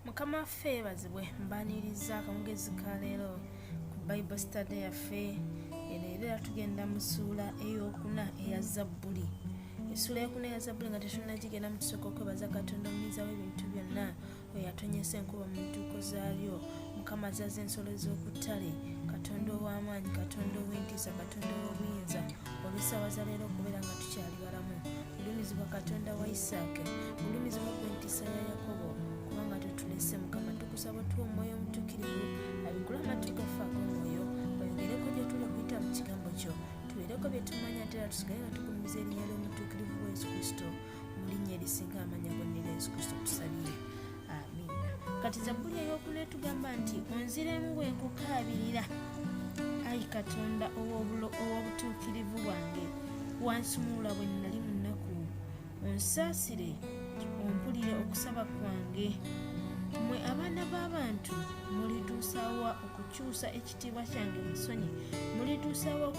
mukama waffe yebazibwe mbaniriza akamugezi ka leero ku bible study yaffe ereero era tugenda mu ssuula eyokuna eya zabbuli essuula eyokuna eya zabbuli nga tetunagigenda mu tusooka okwebaza katonda omuyinza w'ebintu byonna oyo atonyesa enkuba mu ntuuko zaalyo mukama azaza ensolo z'okuttale katonda ow'amaanyi katonda ow'entiisa katonda ow'obuyinza olw'essaawa za leero okubeera nga tukyali galamu gulumizibwa katonda wa isaaka gulumizibwa ku entiisa ya yakobo kubanga totulese mukama tukusaba otuwa omwoyo omutukirivu abikula amatu gaffe ag'omwoyo oyogereko gye tuli okuyita mu kigambo kyo tubeereko bye tumanya ate era tusigale nga tugumiza erinnya ly'omutuukirivu wa yesu kristo mu linnya erisinga amanya gonna era yesu kristo tusabire amiina kati zabbuli eyokuna etugamba nti onziremu bwe nkukaabirira ayi katonda ow'obutuukirivu bwange wansumuula bwe nnali mu nnaku onsaasire ompulire okusaba kwange mwe abaana b'abantu mulituusawa okukyusa ekitiibwa kyange musonyi mulituusawo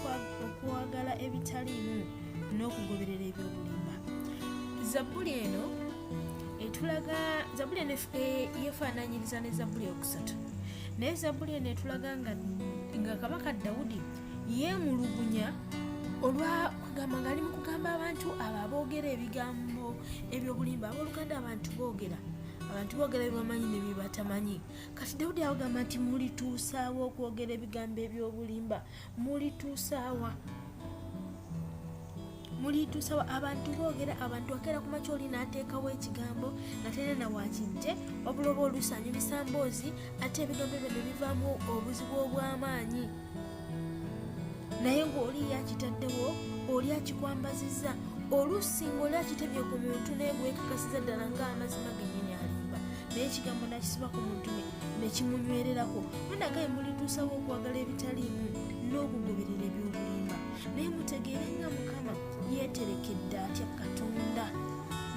okwagala ebitaliimu n'okugoberera ebyobulimba zabbuli eno etulaga zabbuli eno e, yefaananyiriza ne zabbuli okusatu naye zabbuli eno etulaga nga kabaka dawudi yeemulugunya olwa kugamba ngaali mu kugamba abantu abo aboogera ebigambo ebyobulimba abooluganda abantu boogera abantu boogera byebamanyi ne byebatamanyi kati dawudi awagamba nti mulituusaawa okwogera ebigambo eby'obulimba mulituusaawa mulituusaawa abantu boogera abantu akeera ku makyoli n'ateekawo ekigambo nga terena wakijje wabula oba olusanyu bisamboozi ate ebigambo ebyo ne bivaamu obuzibu obw'amaanyi naye ng'oli yakitaddewo oli akikwambazizza oluusi ng'oli akitebye ku muntu naye gwekakasiza ddala ng'amazima genyini alimba naye ekigambo nakisiba ku mutume nekimunywererako munagaye mulituusawo okwagala ebitaliimu n'okugoberera ebyobulimba naye mutegeere nga mukama yeeterekedde atya katonda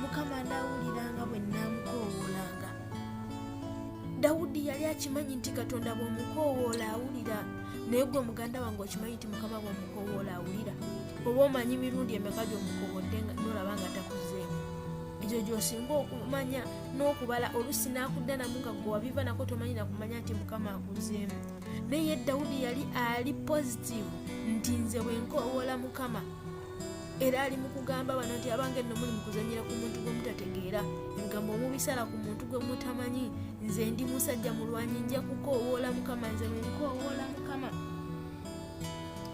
mukama anaawuliranga bwe naamukoowolanga dawudi yali akimanyi nti katonda bw'omukoowoola awulira naye gwe muganda wange okimanyi nti mukama bw'omukoowoola awulira oba omanyi mirundi emeka gy'omukoowodde nga nolaba nga takuzeemu ekyo gy'osinga okumanya n'okubala olusi n'akudanamu nga gwe wabiva nako tomanyi nakumanya nti mukama akuzeemu naye dawudi yali ali positivu nti nze bwe nkoowoola mukama era ali mu kugamba bano nti abange nno muli mu kuzanyira ku muntu gwe mutategeera ebigambo omubisala ku muntu gwe mutamanyi nze ndi musajja mulwanyi nja kukoowoola mukama nze wenkoowoola mukama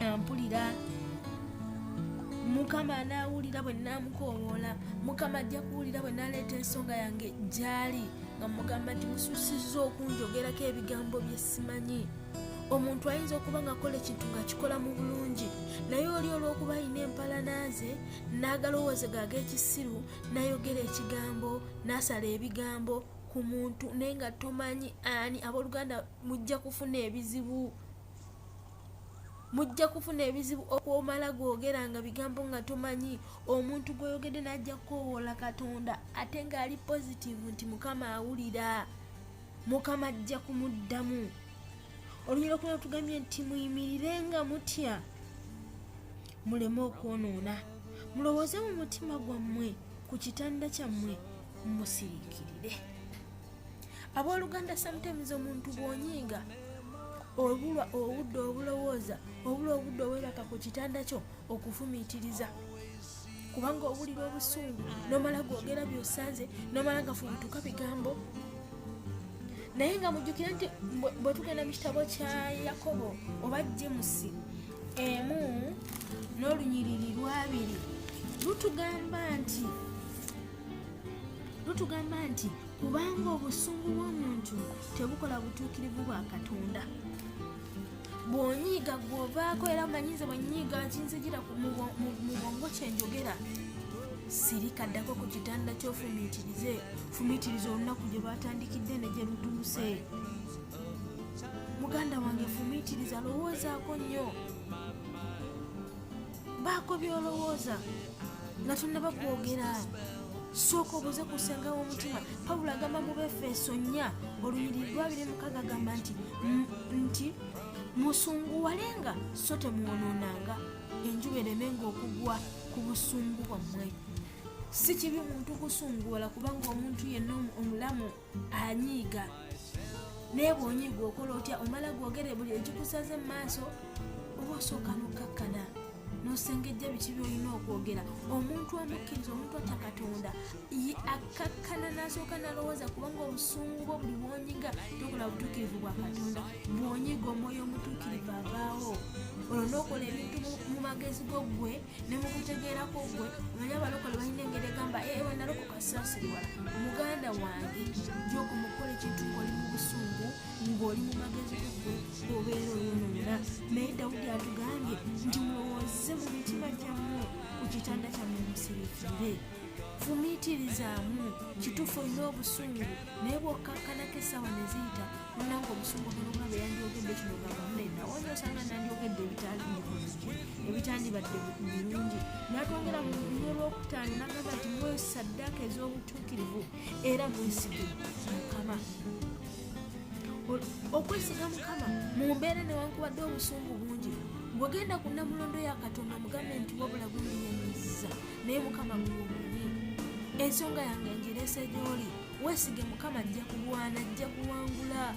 ampulira mukama anaawulira bwe naamukoowoola mukama ajja kuwulira bwe naaleeta ensonga yange gyali nga mugamba nti mususiza okunjogerako ebigambo bye simanyi omuntu ayinza okuba ng'akola ekintu ng'akikola mu bulungi naye oli olw'okuba alina empalana ze n'agalowooze gaaga ekisiru n'ayogera ekigambo n'asala ebigambo ku muntu naye nga tomanyi ani abooluganda mujja kufuna ebizibu mujja kufuna ebizibu okwomala googera nga bigambo nga tomanyi omuntu gweyoogedde n'ajja kukowoola katonda ate ng'ali positivu nti mukama awulira mukama ajja kumuddamu olunyira okuna tugambye nti muyimirire nga mutya muleme okwonoona mulowooze mu mutima gwammwe ku kitanda kyammwe musirikirire abooluganda sometimes omuntu bwonyiiga obulwa obudde obulowooza obula obudde obweraka ku kitanda kyo okufumiitiriza kubanga owulira obusungu nomala gwogera byosanze nomala gafubutuka bigambo naye nga mujjukire nti bwetugenda mu kitabo kya yakobo oba jemusi emu n'olunyiriri lwabiri lutugamba nti lutugamba nti kubanga obusungu bw'omuntu tebukola butuukirivu bwa katonda bw'onyiiga gw'ovaako era manyi nze bwe nyiiga kinzijira mu bwongo kye njogera sirika ddako ku kitanda kyofumiitirize fumiitiriza olunaku gye lwatandikidde ne gye lutuuse muganda wange fumiitiriza lowoozaako nnyo baako byolowooza nga tonnaba kwogera sooka obuze ku senga w'omutima pawulo agamba mu befeeso nnya olunyiriri lwabiri mukaga agamba nti nti musunguwalenga so temwonoonanga enjuba eremenga okugwa ku busungu bwammwe si kibi muntu kusunguwala kubanga omuntu yenna omulamu anyiiga naye bwonyiiga okola otya omala gwogere buli ekikusaze mu maaso oba osooka nokkakkana nosengejja biki byolina okwogera omuntu omukkiriza omuntu atya katonda akkakkana nasooka nalowooza kubanga obusungu bwo buli bwonyiga tokola butuukirivu bwa katonda bwonyiga omwoyo omutuukirivu avaawo olwo nokola ebintu mu magezi go ggwe ne mu kutegeerako gwe omanyi abalokole balina engeri egamba ee eh, wanalokoka sasirwala muganda wange joko mukola ekintu ng'oli mu busungu ng'oli mu magezi gugwe obeera oyononera naye dawudi atugambye nti mulowooze mu mitima gyammwe ku kitanda kyammwe musirikire fumiitirizaamu kituufu olina obusungu naye bw'okkakkanako essaawa ne ziyita nange obusungu buluma be yandyogedde kino gavumuna enawonyo osanga nandyogedde ebitaali mukozi ebitandibadde birungi natwongera mu luyo lwokutaano nagamba nti mwe saddaaka ez'obutuukirivu era mwesige mukama okwesiga mukama mu mbeera newankubadde obusungu bungi bwegenda ku namulondo ya katonda mugambe nti wabula gumuyamiza naye mukama gwomunyi ensonga yange ngireese gyoli wesige mukama ajja kulwana ajja kuwangula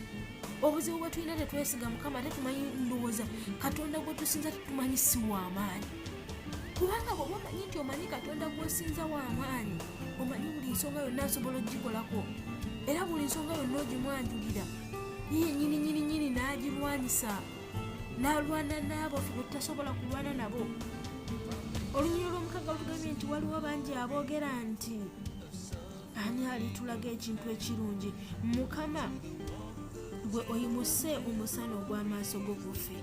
obuzibu bwe tulina tetwesiga mukama ate tumanyi ndowooza katonda gwe tusinza tetumanyi si wamaanyi kubanga bwoba omanyi nti omanyi katonda gwosinza wamaanyi omanyi buli nsonga yonna asobola ogikolako era buli nsonga yonna ogimwanjulira yiye nyini nyini nyini n'agirwanyisa n'alwana n'abo fe bwetutasobola kulwana nabo olunyiro lw'omukaga lutugambye nti waliwo bangi aboogera nti ani alitulaga ekintu ekirungi mukama gwe oyimuse omusana ogw'amaaso go gufe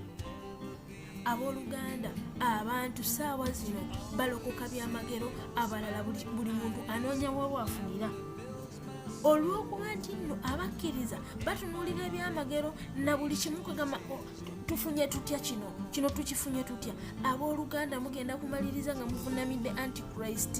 abooluganda abantu saawa zino balokoka byamagero abalala buli muntu anoonya wewaafunira olw'okuba nti nno abakkiriza batunuulira ebyamagero na buli kimu kwegamba oh, tufunye tutya kino kino tukifunye tutya abooluganda mugenda kumaliriza nga muvunamidde antichrist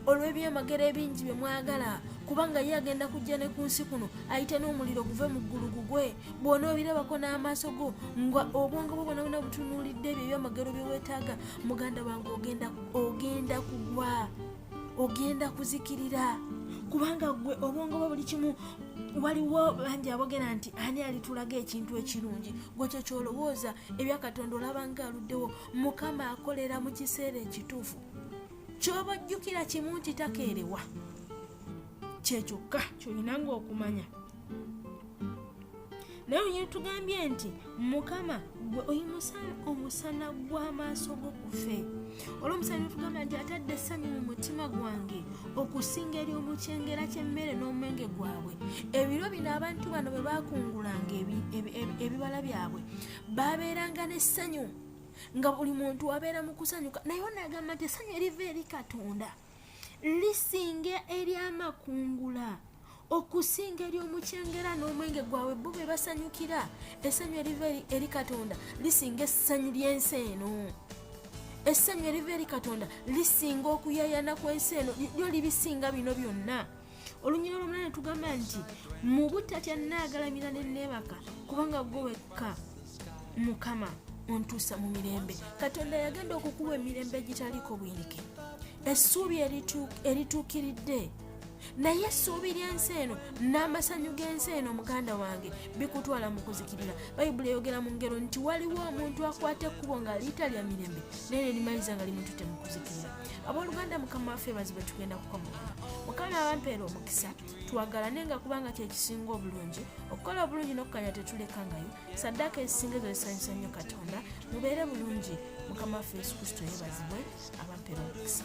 olw'ebyamagero ebingi bye mwagala kubanga ye agenda kujja ne ku nsi kuno ayite n'omuliro guve mu ggulu gugwe bwona obirabako n'amaaso go nga obwongo bwo bwona bwona butunuulidde ebyo ebyamagero bye weetaaga muganda wange ogenda ogenda kugwa ogenda kuzikirira kubanga gwe obwongo bwo buli kimu waliwo bangi abogera nti ani alitulaga ekintu ekirungi gwe kyo kyolowooza ebya katonda olabanga aluddewo mukama akolera mu kiseera ekituufu kyoba ojjukira kimu nti takeerewa kyekyokka kyolina nga okumanya naye onyini tugambye nti mukama gwe oyimusa omusana gw'amaaso go kufe olwomusana tugamba nti atadde essanyu mu mutima gwange okusinga eri omukyengera ky'emmere n'omwenge gwabwe ebiro bino abantu bano bwe bakungulanga ebibala byabwe babeeranga n'essanyu nga buli muntu abeera mu kusanyuka naye onagamba nti essanyu eriva eri katonda lisinga eryamakungula okusinga eri omukyengera n'omwenge gwabwe bo be basanyukira essanyu eriva eri katonda lisinga essanyu ly'ensi eno essanyu eriva eri katonda lisinga okuyayana kw'ensi eno lyo libisinga bino byonna olunyira olumala netugamba nti mubutatya nagalamira nenebaka kubanga gwe wekka mukama ontuusa mu mirembe katonda yagenda okukuwa emirembe egitaliko bwirike essuubi erituukiridde naye essuubi ly'ensi eno n'amasanyu g'ensi eno muganda wange bikutwala mu kuzikirira bayibuli eyogera mu ngero nti waliwo omuntu akwata ekkubo ng'aliita lya mirembe naye nerimaliza nga limututte mu kuzikirira abooluganda mukama waffe bazibe tugenda kukomoka mukama abampeera omukisa twagalane nga kubanga kyekisinga obulungi okukola obulungi n'okukanya tetulekangayo saddaaka ezisinga ezo zisanyusa nnyo katonda mubeere bulungi mukama waffe yesu kristo yebazibwe abampeera omukisa